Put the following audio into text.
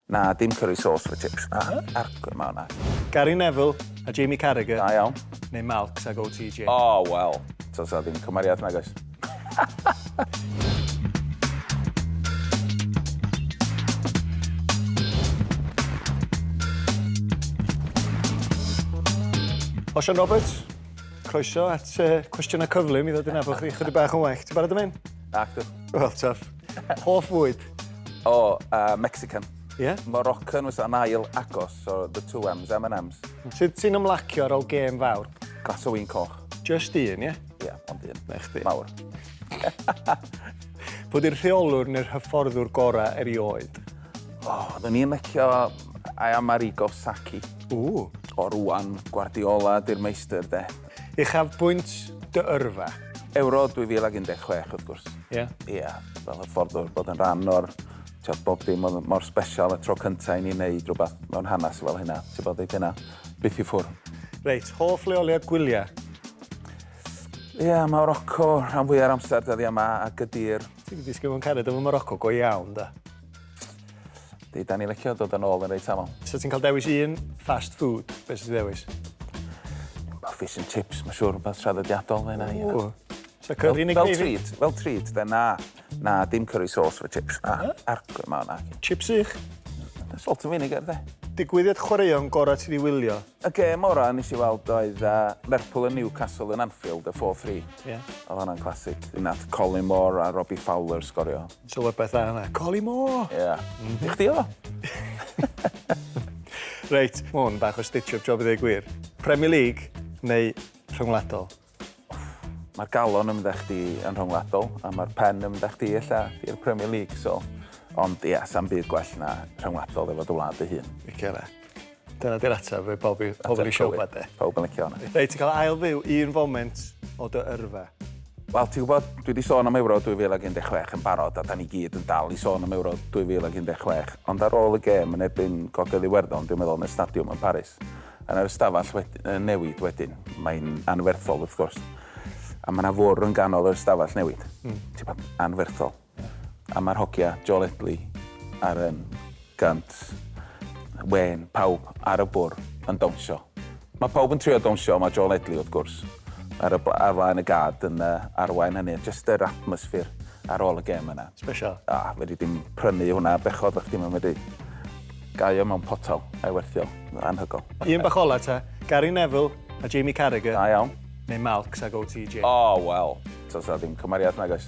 Na, dim curry sauce efo chips. Na, argwr mawr na. Gary Neville a Jamie Carragher. Da iawn. Neu Malcs ag OTJ. O, wel. Does 'na ddim cymariad nag oes? Osian Roberts, croeso at Cwestiynau Cyflym i ddod i nabod chi chydig bach yn well. Ti'n barod am hyn? Nacdw. Wel, twff. Hoff fwyd? O, oh, uh, Mexican. Ie? Yeah? Moroccan was an ail agos, so the two M's, M&M's. Sut ti'n ymlacio ar ôl gêm fawr? Glas o wyn coch. Just un, ie? Yeah? Ie, yeah, ond un. Na chdi. Mawr. Pwy di'r rheolwr neu'r hyfforddwr gorau erioed? O, oh, dyn ni'n lecio I am Arrigo Saki. Ww. O rwan, Guardiola di'r meistr de. Uchafbwynt dy yrfa? Ewro 2016, wrth gwrs. Ie? Ie, fel hyffordd o bod yn rhan o'r... Tibod, bob dim oedd mor special, y tro cynta i ni wneud rhywbeth mewn hanes fel hynna. Tibod, dydy hynna byth i ffwrdd. Reit, hoff leoliad gwyliau? Ie, Morocco, rhan fwya'r amser dyddiau 'ma, a Gydy'r... Ti 'di disgyn mewn cariad efo Morocco, go iawn, de. Di, da ni licio dod yn ôl yn reit aml. So ti'n cael dewis un fast food, beth sy'n ddewis? Mae fish and chips, mae'n siŵr rhywbeth traddodiadol fe na i. Ww. So curry yn y Fel treat, fel treat, fe na. Na, dim curry sauce fe chips. Na, argwyd yma hwnna. Chips i'ch? Salt and vinegar, de. Digwyddiad chwaraeon gorau ti di wylio? Y gêm ora nes i weld oedd uh, Lerpwl yn Newcastle yn Anfield, y 4-3. Yeah. Oedd hwnna'n classic. Nath Colin Moore a Robbie Fowler sgorio. Clywed pethau yna. Collymore! Ia. I chdi oedd o. Reit, ma' hwn bach o stitch up job i ddeu gwir. Premier League neu rhyngwladol? Ma'r galon yn mynd â chdi yn rhyngwladol a ma'r pen yn mynd â chdi ella i'r Premier League so ond ia, sa'm byd gwell na rhyngwladol efo dy wlad dy hun. Licio fe. Dyna di'r ateb fe bob i pobl i siopa de. Pawb yn licio hwnna. Reit ti'n cael ail fyw un foment o dy yrfa. Wel ti'n gwybod dwi wedi sôn am Ewro 2016 yn barod a da ni gyd yn dal i sôn am Ewro 2016 ond ar ôl y gêm yn erbyn Gogledd Iwerddon dwi'n meddwl yn y stadiwm yn Paris yn yr ystafell wedi, uh, newid wedyn mae'n anferthol wrth gwrs a mae yna fwrw yn ganol yr ystafell newid mm. ti'n gwybod anferthol A mae'r hogia, Joe Ledley ar un gant, Wayne, pawb ar y bwrdd yn dawnsio. Mae pawb yn trio dawnsio, mae Joe Ledley, wrth gwrs, ar y ar flaen y gad yn uh, arwain hynny. Just yr atmosffer ar ôl y gem yna. Special. A, ah, fedri dim prynu hwnna bechod, fe chdi, mae'n medru gaio mewn potal, a'i werthio, anhygol. Un bach ola ta, Gary Neville a Jamie Carragher. Da iawn. Neu Malcs ag OTJ. O, oh, wel, tos na ddim cymariad nag oes.